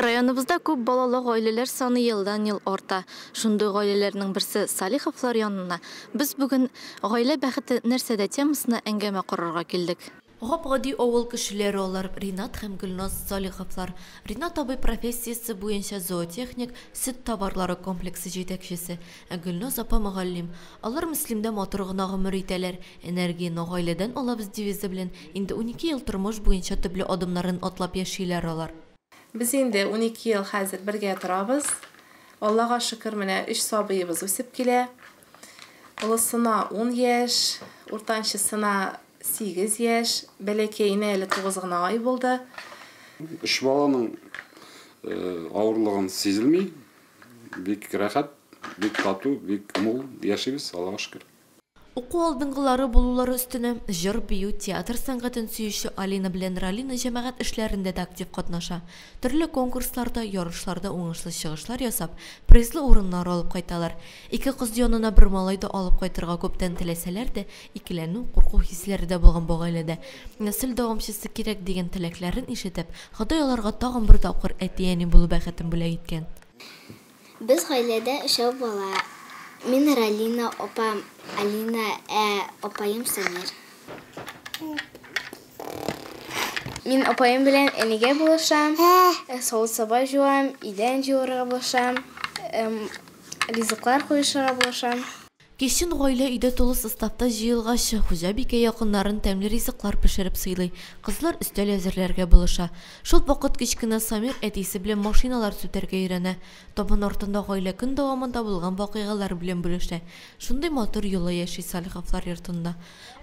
Районыбызда күп балалы гаиләләр саны елдан-ел арта. Шундый гаиләләрнең берсе Салиховлар янына без бүген Гаилә бәхете нәрсәдә темасына әңгәмә корырга килдек. Гап-гади авыл кешеләре алар, Ринат һәм Гөлназ Салиховлар. Ринат абый профессиясе буенча зоотехник, сөт товарлары комплексы җитәкчесе. Ә Гөлназ апа мөгаллим. Алар Мөслимдә матур гына гомер итәләр. Энергияне гаиләдән алабыз девизы белән инде унике ел тормыш буенча төпле адымнарын атлап яшиләр алар. Без инде унике ел хәзер бергә торабыз. Аллага шөкер, менә өч сабыебыз үсеп килә. Олысына ун яшь, уртанчысына сигез яшь, бәләкәенә әле тугыз гына ай булды. Өч баланың авырлыгын сизелми, Бик рәхәт, бик тату, бик мул яшибез, Аллага шөкер. Уку алдынгылары булулары өстенә, җыр-бию, театр сәнгатен сөюче Алина белән Ралина җәмәгать эшләрендә дә актив катнаша. Төрле конкурсларда, ярышларда уңышлы чыгышлар ясап, призлы урыннар алып кайталар. Ике кыз янына бер малай да алып кайтырга күптән теләсәләр дә, Икеләнү, курку хисләре дә булган бу гаиләдә. Нәсел дәвамчысы кирәк, дигән теләкләрен ишетеп, Ходай аларга тагын бер тапкыр әти-әни булу бәхетен бүләк иткән. Без гаиләдә өчәү бала. Мин Ралина, апам, Алина, ә апаем Самир. Мин апаем белән энегә булышам, савыт-саба җуам, идән җуарга булышам, ризыклар куешырга булышам. Кичен гаилә өйдә тулы составта җыелгач, хуҗабикә якыннарын тәмле ризыклар пешереп сыйлый, кызлар өстәл әзерләргә булыша. Шул вакыт кечкенә Самир әтисе белән машиналар сүтәргә өйрәнә, табын артында гаилә көн дәвамында булган вакыйгалар белән бүлешә. Шундый матур йола яши Салиховлар йортында.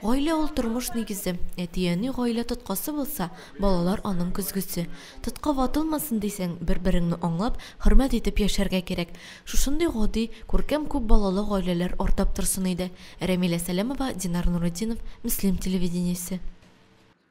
Гаилә ул тормыш нигезе. Әти-әни гаилә тоткасы булса, балалар аның көзгесе. Тотка ватылмасын дисәң, бер-береңне аңлап, хөрмәт итеп яшәргә кирәк. Шушындый гади, күркәм күп балалы гаиләләр артап торсын иде. Рәмилә Сәләмова, Динар Нуретдинов, Мөслим телевидениесе.